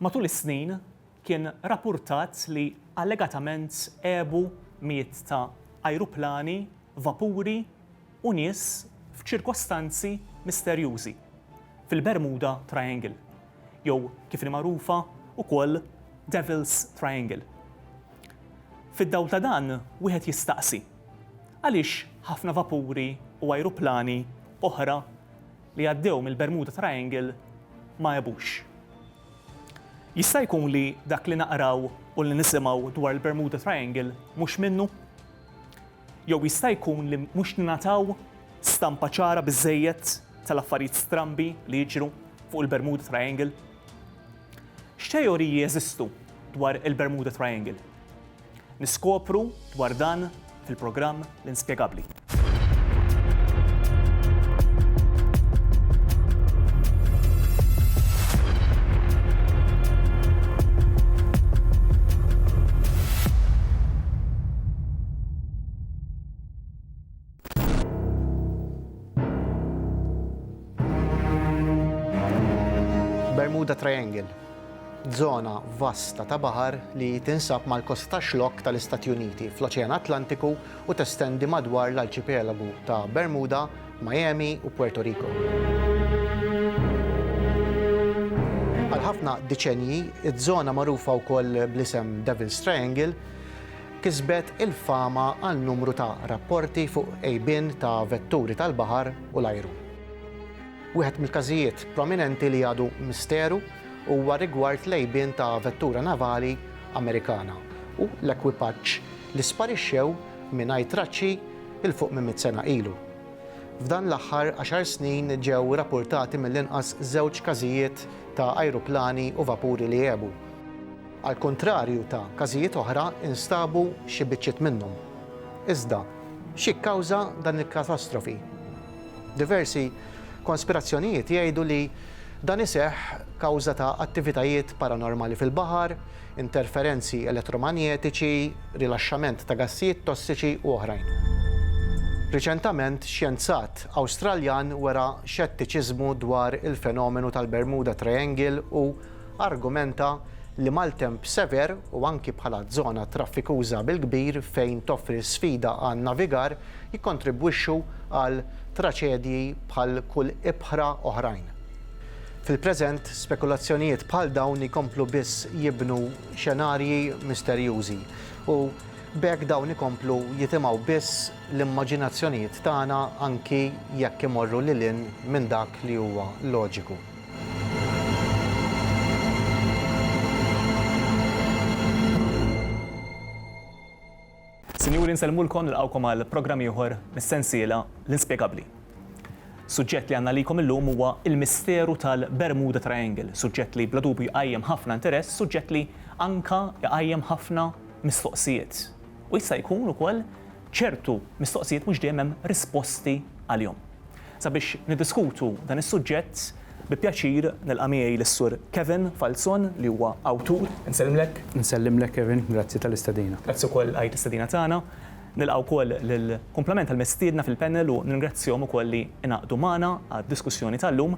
Matul is-snin kien rappurtat li allegatament għebu mijiet ta' ajruplani, vapuri u nies f'ċirkostanzi misterjużi fil-Bermuda Triangle, jew kif inhi magħrufa wkoll Devil's Triangle. Fid-dawl ta' dan wieħed jistaqsi, għaliex ħafna vapuri u ajruplani oħra li għaddew mill-Bermuda Triangle ma għebux. Jista' jkun li dak li naqraw u li nisimgħu dwar il-Bermuda Triangle mhux minnu? Jew jista' jkun li mhux ningħataw stampa ċara biżżejjed tal-affarijiet strambi li jiġru fuq il-Bermuda Triangle? X'teoriji jeżistu dwar il-Bermuda Triangle? Niskopru dwar dan fil-programm L-Inspjegabbli. Bermuda Triangle, żona vasta ta' baħar li tinsab mal-kosta ta' xlokk tal-Istati Uniti fl-Oċean Atlantiku u testendi madwar l-arċipelagu ta' Bermuda, Miami u Puerto Rico. Għal ħafna diċenji, iż-żona magħrufa wkoll bl-isem Devil's Triangle kisbet il-fama għal numru ta' rapporti fuq għejbien ta' vetturi tal-baħar u l-ajru. Wieħed mill-każijiet prominenti li għadu misteru huwa rigward l-għejbien ta' vettura navali Amerikana u l-ekwipaġġ li sparixxew mingħajr traċċi 'l fuq minn mitt sena ilu. F'dan l-aħħar għaxar snin ġew rapportati mill-inqas żewġ każijiet ta' ajruplani u vapuri li għebu. Għall-kuntrarju ta' każijiet oħra, instabu xi biċċiet minnhom. Iżda, xi kkawża dan il-katastrofi? Diversi konspirazzjonijiet jgħidu li dan iseħħ kawża ta' attivitajiet paranormali fil-baħar, interferenzi elettromanjetiċi, rilaxxament ta' gassijiet tossiċi u oħrajn. Riċentament, xjenzat Awstraljan wera xettiċiżmu dwar il-fenomenu tal-Bermuda Triangle u argumenta li maltemp sever u anki bħala żona traffikuża bil-kbir fejn toffri sfida għan-navigar jikkontribwixxu għal traċedji bħal kull ibħra oħrajn. Fil-preżent, spekulazzjonijiet bħal dawn jkomplu biss jibnu xenarji misterjużi u b'hekk dawn ikomplu jitimgħu biss l-immaġinazzjonijiet tagħna anki jekk imorru lil hinn minn dak li huwa loġiku. Sinjuri nsellmulkom nilqgħukom għal programm ieħor mis-sensiela L-Inspjegabbli. Suġġett li għandna għalikom illum huwa l-misteru tal-Bermuda Triangle, suġġett li bla dubju jqajjem ħafna interess, suġġett li anke jqajjem ħafna mistoqsijiet. U jista' jkun ukoll ċertu mistoqsijiet mhux dejjem hemm risposti għalihom. Sabiex niddiskutu dan is-suġġett, bi pjaċir nilqa' miegħi lis-Sur Kevin Falzon li huwa awtur, insellmlek. Insellimlek Kevin, grazzi tal-istedina. Grazzi wkoll għajt l-istedina tagħna. Nilqa' wkoll lil kumplament tal-mistiedna fil-panel u nirringrazzjahom ukoll li ingħaqdu magħna għad-diskussjoni tal-lum.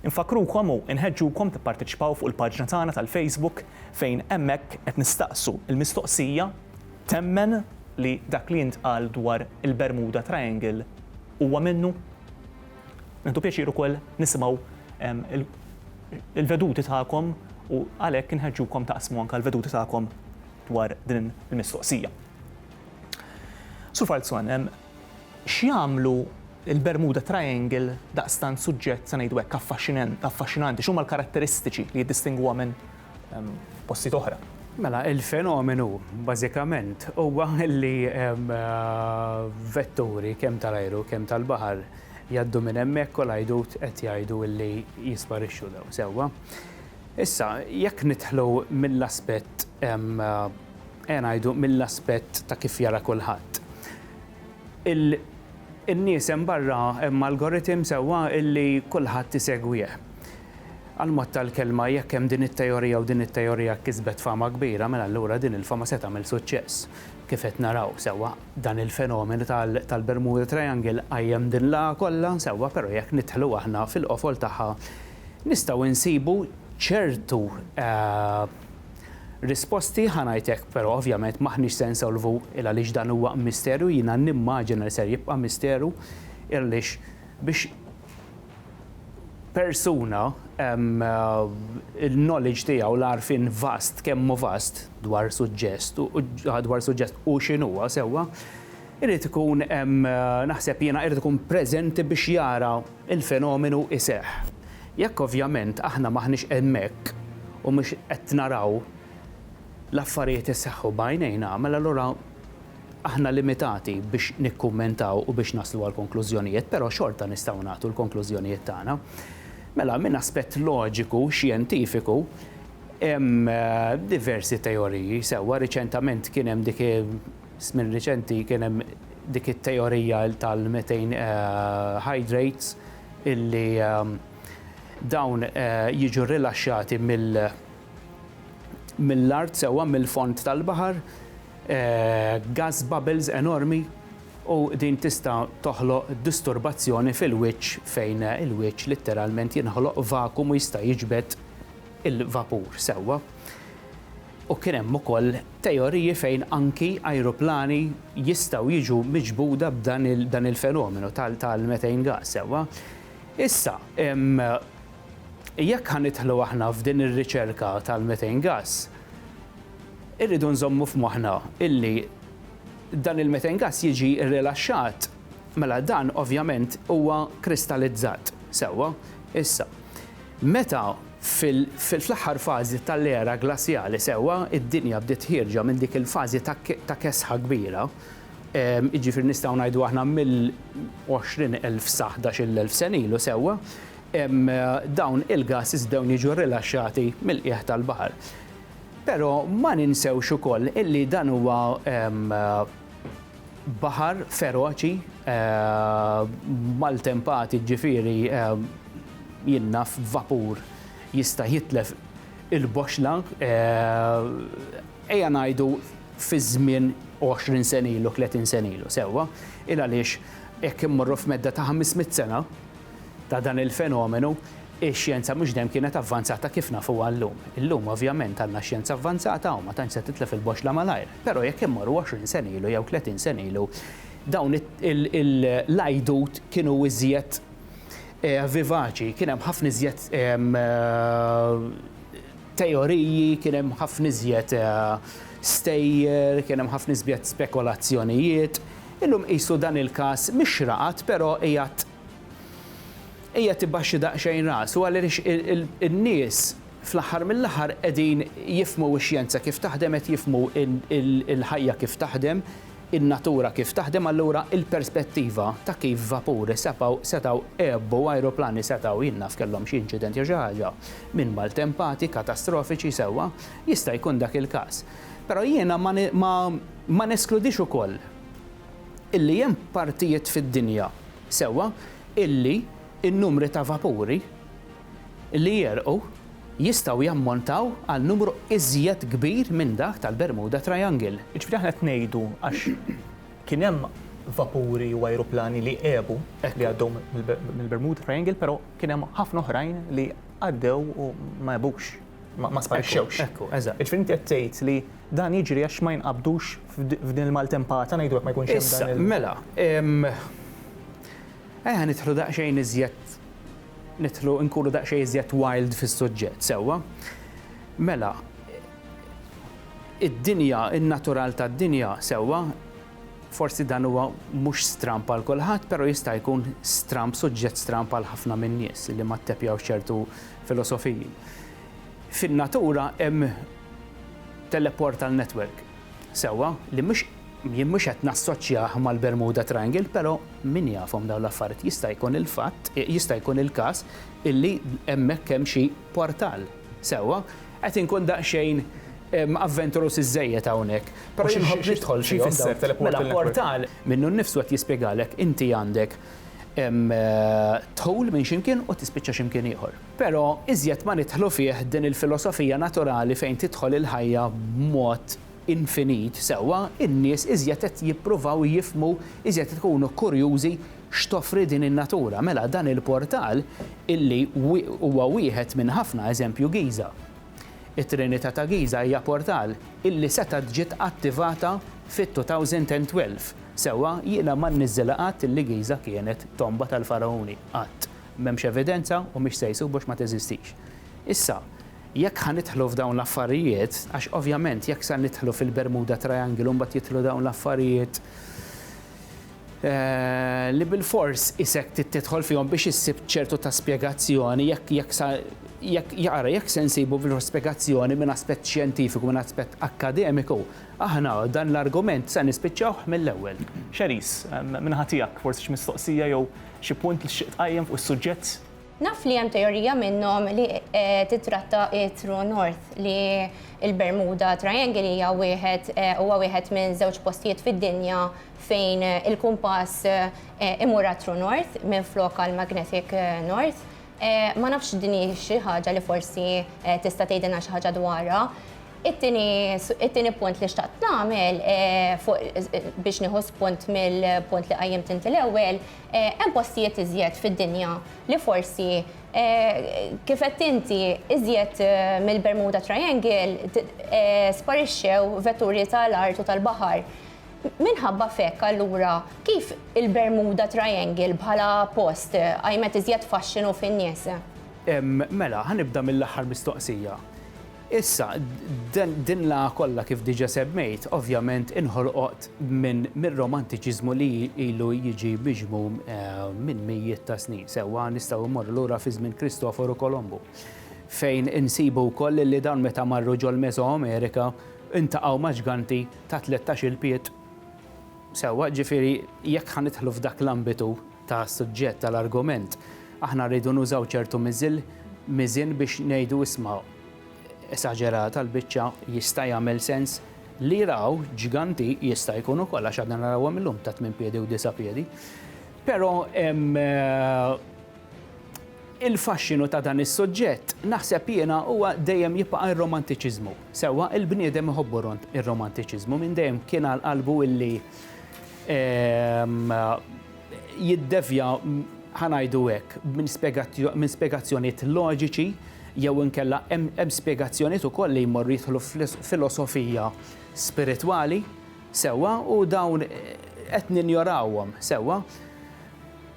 Infakkrukom u inħeġġukom tipparteċipaw fuq il-paġna tagħna tal-Facebook fejn hemmhekk qed nistaqsu l-mistoqsija, Temmen li dak li intqal dwar il-Bermuda Triangle huwa minnu? Nieħdu pjaċir ukoll nisimgħu l-veduti tagħkom u għalhekk inħeġġukom taqsmu anke l-veduti tagħkom dwar din il-mistoqsija. Sur Falzon, x'jagħmlu l-Bermuda Triangle daqstant suġġett, se ngħidu hekk, affaxxinanti? X'huma l-karatteristiċi li jiddistingwuha minn f'postijiet oħra. Mela, il-fenomenu bażikament huwa li vetturi kemm tal-ajru kemm tal-baħar jgħaddu minn hemmhekk u l-għajdut qed jgħidu li jisparixxu dawn sewwa. Issa, jekk nidħlu mill-aspett ejja ngħidu mill-aspett ta' kif jara kulħadd. In-nies hemm barra hemm algorithm sewwa li kulħadd isegwih. Għall-mod tal-kelma, jekk hemm din it-teorija u din it-teorija kisbet fama kbira, mela allura din il-fama se tagħmel suċċess. Kif qed naraw, sewwa, dan il-fenomenu tal-Bermuda Triangle qajjem din l-agħa kollha, sewwa, però jekk nidħlu aħna fil-qofol tagħha nistgħu nsibu ċertu risposti, ħa ngħid hekk, però ovvjament m'aħniex se nsolvu il-għaliex dan huwa misteru, jiena nimmaġina li ser jibqa' misteru, il-għaliex biex persuna il-knowledge tiegħu l-għarfien vast kemm hu vast dwar suġġest dwar suġġest u x'inhuwa sewwa, irid ikun naħseb jiena irid ikun preżenti biex jara l-fenomenu iseħħ. Jekk ovvjament aħna m'aħniex hemmhekk u mhux qed naraw l-affarijiet iseħħu b'għajnejna, mela allura Aħna limitati biex nikkummentaw u biex naslu għal konklużjonijiet, però xorta nistgħu nagħtu l-konklużjonijiet tagħna. Mela, minn aspett loġiku, xjentifiku, hemm diversi teoriji, sewwa riċentament kien hemm dik, żmien riċenti kien hemm dik it-teorija tal-methane hydrates illi dawn jiġu rilaxxati mill, mill-art sewwa, mill-fond tal-baħar, gas bubbles enormi u din tista' toħloq disturbazzjoni fil-wiċċ fejn il-wiċċ litteralment jinħoloq vakum u jista' jiġbed il-vapur sewwa. U kien hemm ukoll teoriji fejn anki ajruplani jistgħu jiġu miġbuda b'dan il-fenomenu tal-methane gas sewwa. Issa, Jekk ħa nidħlu aħna f'din ir-riċerka tal-methane gas, irridu nżommu f'moħħna illi dan il-methane gas jiġi rrilaxxat, mela dan ovvjament huwa kristalizzat. Sewwa? Issa, meta fl-aħħar fażi tal-era glasjali, sewwa, id-dinja bdiet ħierġa minn dik il-fażi ta' kesħa kbira, jiġifieri nistgħu ngħidu aħna mill-20,000 sa ħdax-il elf sena ilu, sewwa, dawn il-gases bdew jiġu rilaxxati mill-qiegħ tal-baħar. Però ma ninsewx ukoll illi dan huwa baħar feroċi maltempati ġifieri jinnaf vapur jista' jitlef il-boxxla ejja ngħidu fi żmien 20 sena ilu, 30 sena ilu sewwa, il għaliex jekk immorru f'medda ta' 500 sena, ta' dan il-fenomenu, ix-xjenza mhux dejjem kienet avvanzata kif nafuha llum. Illum, ovvjament, għandna xjenza avvanzata u ma tantx se titlef il-boxxla malajr. Però jekk immorru għoxrin sena ilu jew tletin sena ilu, dawn il-għajdut kienu iżjed vivaċi, kien hemm ħafna iżjed teoriji, kien hemm ħafna iżjed stejjer, kien hemm ħafna iżjed spekulazzjonijiet. Illum qisu dan il-każ mhix raqad però qiegħed qiegħed ibaxxi daqsxejn rasu għaliex in-nies fl-aħħar mill-aħħar qegħdin jifhmu x-xjenza kif taħdem, qed jifhmu l-ħajja kif taħdem, in-natura kif taħdem allura il-perspettiva ta' kif vapuri sepgħu setgħu jgħobbu u ajruplani setgħu jien naf kellhom xi inċident jew xi ħaġa minn maltempati katastrofiċi sewwa jista' jkun dak il-każ però jiena ma ma ma neskludix ukoll illi hemm partijiet fid-dinja sewwa illi n-numri ta' vapuri li jegħrqu jistgħu jammontaw għal numru iżjed kbir minn dak tal-Bermuda Triangle. Jiġifieri aħna qed ngħidu għax kien hemm vapuri u ajruplani li għebu li għaddew mill-Bermuda Triangle però kien hemm ħafna oħrajn li għaddew u ma għebux, ma sparixxewx. Ekku, eżatt. Jiġifieri inti qed tgħid li dan jiġri għax ma jinqabdux f'din il-maltempata ngħidu hekk ma jkunx hemm dan il-. Issa, mela, Ejja nidħlu daqsxejn iżjed nidħlu nkunu daqsxejn iżjed wild fis-suġġett, sewwa? Mela, id-dinja, in-natural tad-dinja, sewwa, forsi dan huwa mhux stramb għal kulħadd, però jista' jkun stramb, suġġett stramb għal ħafna min-nies li ma ttepjawx ċertu filosofiji. Fin-natura hemm teleportal network. Sewwa li mhux jien mhux qed nassoċjah mal-Bermuda Triangle però min jafhom dawn l-affarijiet jista' jkun il-fatt jista' jkun il-każ illi hemmhekk hemm xi portal. Sewwa? Qed inkun daqsxejn avventuruż iżżejjed hawnhekk però jien nħobb nidħol fihom dawn. Mela portal minnu nnifsu qed jispjegalek inti għandek dħul minn xi mkien u tispiċċa xi mkien ieħor. Però iżjed ma nidħlu fih din il-filosofija naturali fejn tidħol il-ħajja b'mod infinit sewwa, in-nies iżjed qed jippruvaw jifhmu, iżjed qed ikunu kurjużi x'toffri din in-natura. Mela dan il-portal illi huwa wieħed minn ħafna, eżempju Giża. It-Trinità ta' Giża hija portal illi setgħet ġiet attivata fit-2012. Sewwa jiena ma nniżżilha qatt illi Giża kienet tomba tal-Fargħuni, qatt. M'hemmx evidenza u mhix se jsub għax ma teżistix. Issa, jekk ħa nidħlu f'dawn l-affarijiet, għax ovvjament jekk sa nidħlu fil-Bermuda Triangle u mbagħad jidħlu dawn l-affarijiet li bilfors isek trid tidħol fihom biex issib ċertu ta' spjegazzjoni, jekk jekk sa jekk ara jekk se nsibu bilfors spjegazzjoni minn aspett xjentifiku, minn aspett akkademiku, aħna dan l-argument se nispiċċawh mill-ewwel. Charisse, min-naħa tiegħek forsi xi mistoqsija jew Xi punt li tixtieq tqajjem fuq is-suġġett? Naf li hemm teorija minnhom li titratta t-True North, li l-Bermuda Triangle hija wieħed huwa wieħed minn żewġ postijiet fid-dinja fejn il-kumpass imur għat-True North minflok għall-Magnetic North. Ma nafx din hi xi ħaġa li forsi tista' tgħidilna xi ħaġa dwarha. It-tieni punt li xtaqt nagħmel biex nieħu spunt mill-punt li qajjimt inti l-ewwel, hemm postijiet iżjed fid-dinja li forsi kif għedt inti iżjed mill-Bermuda Triangle sparixxew vetturi tal-art u tal-baħar. Minħabba f'hekk allura kif il-Bermuda Triangle bħala post qajmet iżjed faxxinu fin-nies? Mela, ħa nibda mill-aħħar mistoqsija. Issa, din l-għagħa kollha kif diġà semmejt, ovvjament inħolqot mir-romantiċiżmu li ilu jiġi miġmum minn mijiet ta' snin. Sewwa nistgħu mmorru lura fi żmien Kristoforu Kolombu fejn insibu wkoll li dawn meta marru ġol-Mesoamerika ltaqgħu ma' ġganti ta' tlettax-il pied. Sewwa, jiġifieri jekk ħa nidħlu f'dak l-ambitu ta' suġġett tal-argument, aħna rridu nużaw ċertu miżil, miżien biex ngħidu isma' esaġerata l-biċċa, jista' jagħmel sens li raw ġganti, jista' jkun ukoll għax għadna narawhom illum ta' tmien piedi u disa' piedi. Però hemm Il-faxxinu ta' dan is-suġġett, naħseb jiena, huwa dejjem jibqa' r-romantiċiżmu. Sewwa, il-bniedem iħobbu r-romantiċiżmu, minn dejjem kien għal qalbu li jiddevja, ħa ngħidu hekk, minn spjegazzjonijiet loġiċi jew inkella hemm spjegazzjonijiet ukoll li jmorru jidħlu f'filosofija spiritwali, sewwa, u dawn qed ninjorawhom, sewwa.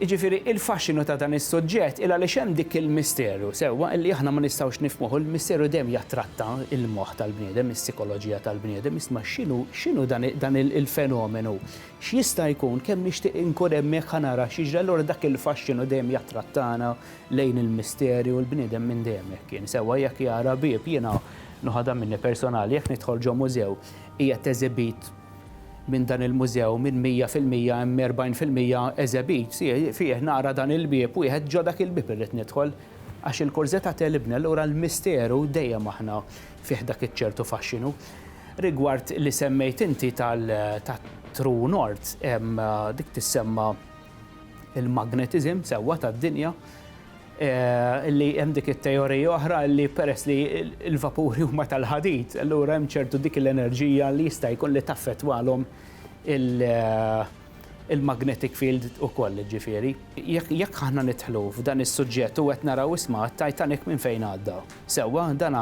Jiġifieri, il-faxxinu ta' dan is-suġġett hi għaliex hemm dik il-misteru, sewwa, illi aħna ma nistgħux nifhmuh u l-misteru dejjem jattratta l-moħħ tal-bniedem, is-sikoloġija tal-bniedem, isma' x'inhu, x'inhu dan, dan il-fenomenu, x'jista' jkun, kemm nixtieq inkun hemm hekk ħa nara x'jiġri, allura dak il-faxxinu dejjem jattrattana lejn il-misteri u l-bniedem minn dejjem hekk kien, sewwa, jekk jara bieb, jiena, nuħodha minni personali, jekk nidħol ġo mużew, qiegħed eżibit, minn dan il-mużew minn mija fil-mija hemm erbgħin fil-mija eżebit fih nara dan il-bieb wieħed ġo dak il-bieb irrid nidħol għax il-kurżeta tegħlibni allura l-misteru dejjem aħna fih dak iċ-ċertu faxxinu. Rigward li semmejt inti tat-True North hemm dik tissemma il-magnetism sewwa tad-dinja li hemm dik it-teorija oħra li peress li l-vapuri huma tal-ħadid, allura hemm ċertu dik l-enerġija li jista' jkun li taffettwalhom il-magnetic field ukoll, ġifieri. Jekk aħna nidħlu f'dan is-suġġett u qed naraw isma' t-Titanic minn fejn għadda. Sewwa, dan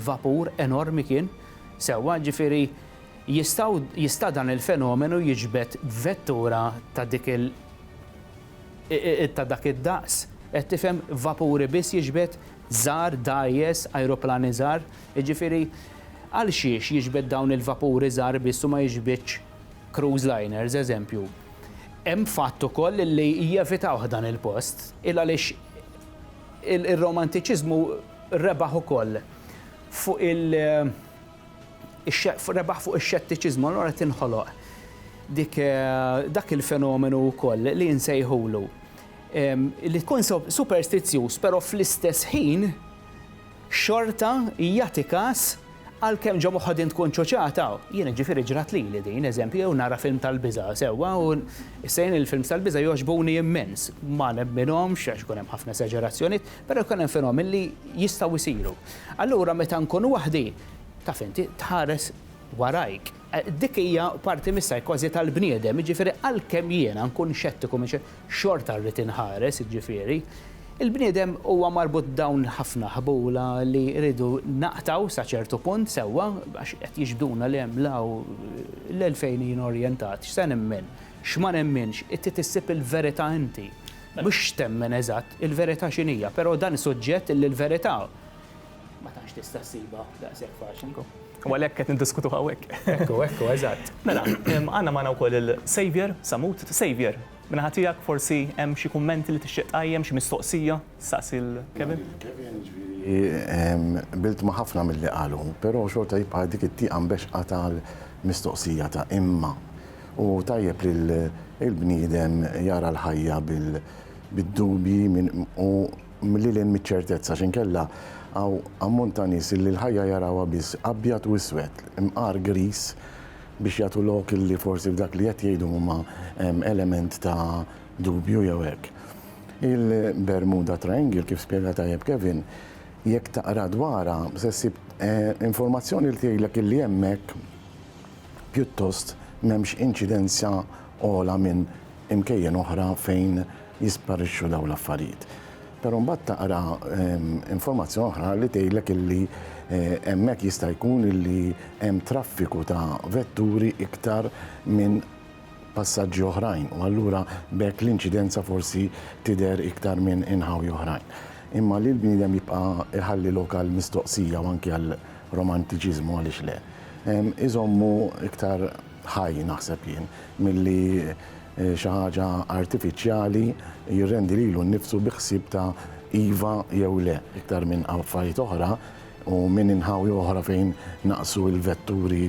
vapur enormi kien, sewwa, ġifieri jista' dan il-fenomenu jiġbed vettura ta' dik il- ta' dak id-daqs, qed tifhem, vapuri biss jiġbed, żgħar, dgħajjes, ajruplani żgħar. Jiġifieri, għalxiex jiġbed dawn il-vapuri żgħar biss u ma jiġbidx cruise liners, eżempju? Hemm fatt ukoll li jevitawh dan il-post, il-għaliex ir-romantiċiżmu rebaħ ukoll fuq il-, Rebaħ fuq ix-xettiċiżmu allura tinħoloq dik dak il-fenomenu wkoll li nsejħulu li tkun superstizzjuż però fl-istess ħin xorta jagħti każ għalkemm ġo moħħok din tkun ċuċata. Jiena ġifieri ġrat lili din, eżempju, jew nara film tal-biża' sewwa u issa jien il-films tal-biża' jogħġbuni immens. Ma nemminhomx għax ikun hemm ħafna esaġerazzjonijiet, Però jkun hemm fenomeni li jistgħu jsiru. Allura meta nkun waħdi, taf inti, tħares warajk. Dik hija parti mis-psychosi tal-bniedem, jiġifieri għalkemm jiena nkun xettiku minn xi xorta rrid inħares, jiġifieri, il-bniedem huwa marbut b'dawn ħafna ħbula li rridu naqtgħu sa ċertu punt sewwa għax qed jiġbduna 'l hemm 'l hawn, 'l fejn jien orjentat, x'se nemmen, x'ma nemminx, trid issib il-verità inti. Mhux x'temmen eżatt, il-verità x'inhija, però dan suġġett li l-verità ma tantx tista' ssibha daqshekk faċli. Ekku. U għalhekk qed niddiskutuh hawnhekk. Ekku, ekku, eżatt. Mela, għandna magħna wkoll il-Saviour Sammut. Saviour, min-naħa tiegħek forsi hemm xi kummenti li tixtieq tqajjem, xi mistoqsija tistaqsi lil Kevin? Lil Kevin, ġifieri qbilt ma' ħafna milli qalu, però xorta jibqa' dik it-tieqa mbeċċqa tal-mistoqsija ta' imma. U tajjeb li l-bniedem jara l-ħajja bid-dubji u lil hinn miċ-ċertezza x'inkella hawn ammont ta' nies illi l-ħajja jarawha biss abjad u iswed, imqar griż biex jagħtu lok illi forsi f'dak li qed jgħidu huma hemm element ta' dubju jew hekk. Il-Bermuda Triangle kif spjega tajjeb Kevin, jekk taqra dwarha se ssib informazzjoni li tgħidlek illi hemmhekk, pjuttost m'hemmx inċidenza ogħla minn imkejjen oħra fejn jisparixxu dawn l-affarijiet. Però mbagħad taqra informazzjoni oħra li tgħidlek illi hemmhekk jista' jkun illi hemm traffiku ta' vetturi iktar minn passaġġi oħrajn u allura b'hekk l-inċidenza forsi tidher iktar minn inħawi oħrajn. Imma li l-bniedem jibqa' jħalli lok għall-mistoqsija u anki għal romantiċiżmu għaliex le, iżommu iktar ħaj naħseb jien milli xi ħaġa artifiċjali jirrendi lilu nnifsu bi ħsieb ta' iva jew le iktar minn affarijiet oħra u minn inħawi oħra fejn naqsu l-vetturi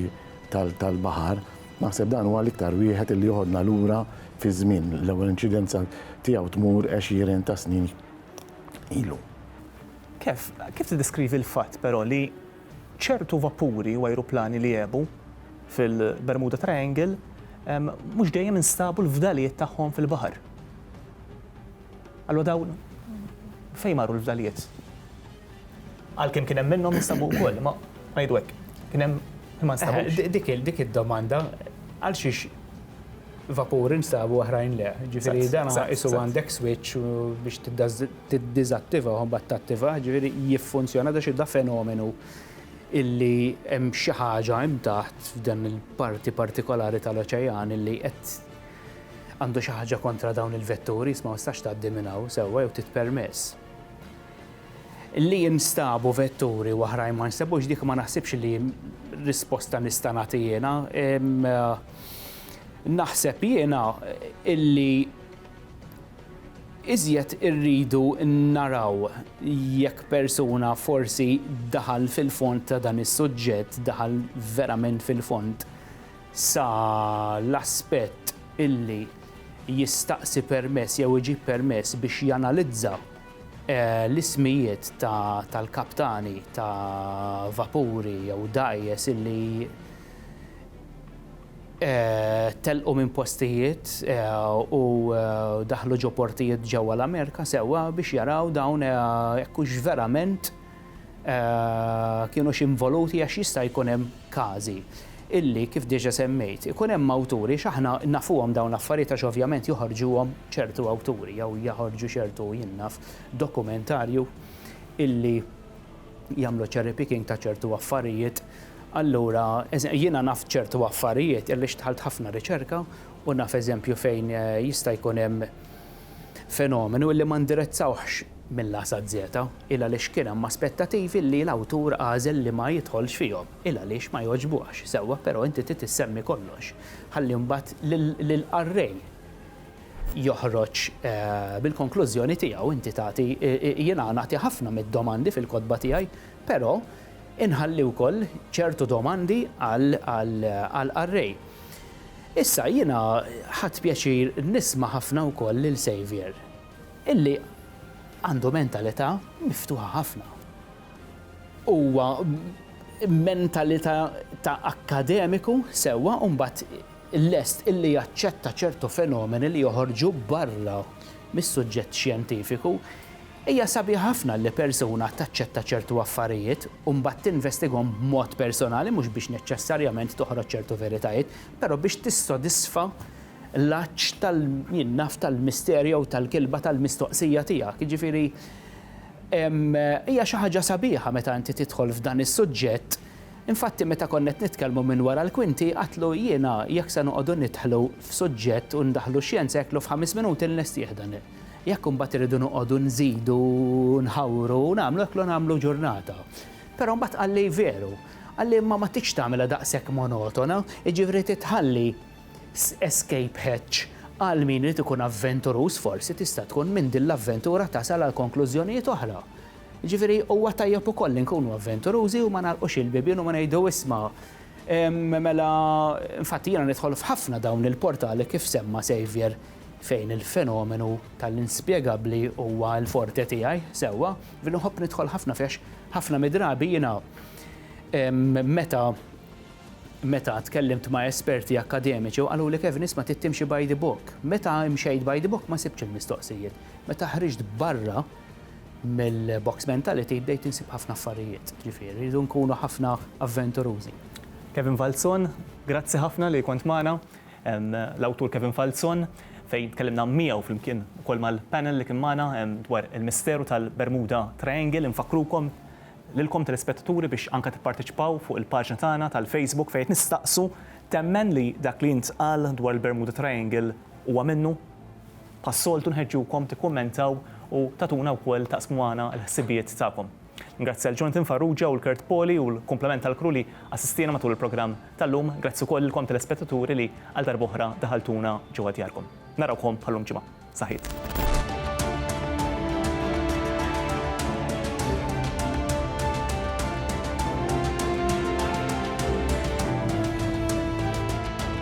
tal-baħar. Naħseb dan huwa l-iktar wieħed li joħodna lura fiż-żmien, l-ewwel inċidenza tiegħu tmur għexieren ta' snin ilu. Kev, kif tiddeskrivi l-fatt però li ċertu vapuri u ajruplani li għebu fil-Bermuda Triangle mhux dejjem instabu l-fdalijiet tagħhom fil-baħar? Allura dawn fejn marru l-fdalijiet? Għalkemm kien hemm minnhom li sabu wkoll, imma ngħidu hekk, kien hemm li ma nstabux. Dik id-domanda għal xiex vapuri nstabu oħrajn le. Ġifieri dan isu għandek switch biex tiddiżattiva u mbagħad tattiva, ġifieri jiffunzjona da xi da fenomenu illi hemm xi ħaġa hemm taħt f'dan il-parti partikolari tal-oċejan illi qed Għandu xi ħaġa kontra dawn il-vetturi iżda ma tistax tgħaddi minn hawn sewwa jew tit permess. Li jinstabu vetturi u oħrajn ma jinstabux dik ma naħsibx li risposta nista' nagħti jiena. Naħseb jiena illi iżjed irridu naraw jekk persuna forsi daħal fil-fond ta' dan is-suġġett, daħal verament fil-fond. sa l-aspett illi jistaqsi permess jew iġib permess biex janalizza l-ismijiet tal-kaptani ta' vapuri jew dgħajjes illi telqu minn postijiet u daħlu ġo portijiet ġewwa l-Amerika sewwa biex jaraw dawn jekk hux verament kienux involuti għax jista' jkun hemm każi illi kif diġa semmejt ikun hemm awturi x'aħna nafuhom dawn l-affarijiet għax ovvjament joħorġuhom ċertu awturi jew jaħorġu ċertu jien naf dokumentarju illi jagħmlu cherry picking ta' ċertu affarijiet allura jiena naf ċertu affarijiet għaliex dħalt ħafna riċerka u naf eżempju fejn jista' jkun hemm Fenomenu li ma ndirizzawhx mill-A saz. Il għaliex kien hemm aspettativi li l-awtur għażel li ma jidħolx fihom. Il għaliex ma jogħġbuhx. Sewwa, però inti trid issemmi kollox. Ħalli mbagħad lill-qarrej joħroġ bil-konklużjoni tiegħu. Inti tagħti, jiena nagħti ħafna mid-domandi fil-kotba tiegħi, però inħalli wkoll ċertu domandi għall-qarrej. Issa, jiena ħadt pjaċir nisma' ħafna wkoll lil Saviour, illi għandu mentalità miftuħa ħafna. Huwa b'mentalità ta' akkademiku sewwa u mbagħad lest illi jaċċetta ċertu fenomeni li joħorġu barra mis-suġġett xjentifiku. Hija sabiħa ħafna li persuna taċċetta ċertu affarijiet u mbagħad tinvestigahom b'mod personali mhux biex neċċessarjament toħroġ ċertu veritajiet, però biex tissodisfa l-għatx tal-, jien naf, tal-mister jew tal-kilba tal-mistoqsija tiegħek. Jiġifieri, hija xi ħaġa sabiħa meta inti tidħol f'dan is-suġġett. Infatti meta konna qed nitkellmu minn wara l-kwinti għidtlu jiena jekk se noqogħdu nidħlu f'suġġett u ndaħħlu x-xjenza għidtlu f'ħames minuti nlestih dan il-, Jekk imbagħad irridu noqogħdu nżidu nħawru u nagħmlu hekk, nagħmlu ġurnata. Però mbagħad qalli veru, qalli imma ma tridx tagħmilha daqshekk monotona, jiġifieri trid tħalli escape hatch għal min irid ikun avventuruż forsi tista' tkun minn din l-avventura tasal għal konklużjonijiet oħra. Jiġifieri huwa tajjeb ukoll li nkunu avventurużi u ma nagħlqux il-bibien u ma ngħidu isma' mela infatti jiena nidħol f'ħafna dawn il-portali kif semma' Saviour fejn il-fenomenu tal-inspjegabbli huwa l-forte tiegħi sewwa, li nħobb nidħol ħafna fih għax ħafna mid-drabi jiena meta meta tkellimt ma' esperti akkademiċi u qaluli Kevin isma' trid timxi by the book. Meta imxejt by the book ma sibtx il-mistoqsijiet. Meta ħriġt barra mill-box mentality bdejt insib ħafna affarijiet. Ġifieri rridu nkunu ħafna avventurużi. Kevin Falzon, grazzi ħafna li kont magħna. l-awtur Kevin Falzon fejn tkellimna miegħu flimkien ukoll mal-panel li kien magħna dwar il-misteru tal-Bermuda Triangle. Infakkrukom lilkom telespettaturi biex anke tipparteċipaw fuq il-paġna tagħna tal-Facebook fejn qed nistaqsu, temmen li dak li ntqal dwar il-Bermuda Triangle huwa minnu? Bħas-soltu nħeġġukom tikkummentaw u tagħtuna wkoll taqsmu magħna l-ħsibijiet tagħkom. Ningrazzja lil Jonathan Farrugia u l-Kurt Poli u l-kumplament tal-crew li assistiena matul il-programm tal-lum. Grazzi wkoll lilkom telespettaturi li għal darba oħra daħaltuna ġewwa djarkom. Narawkom bħal-lum ġimgħa. Saħħiet.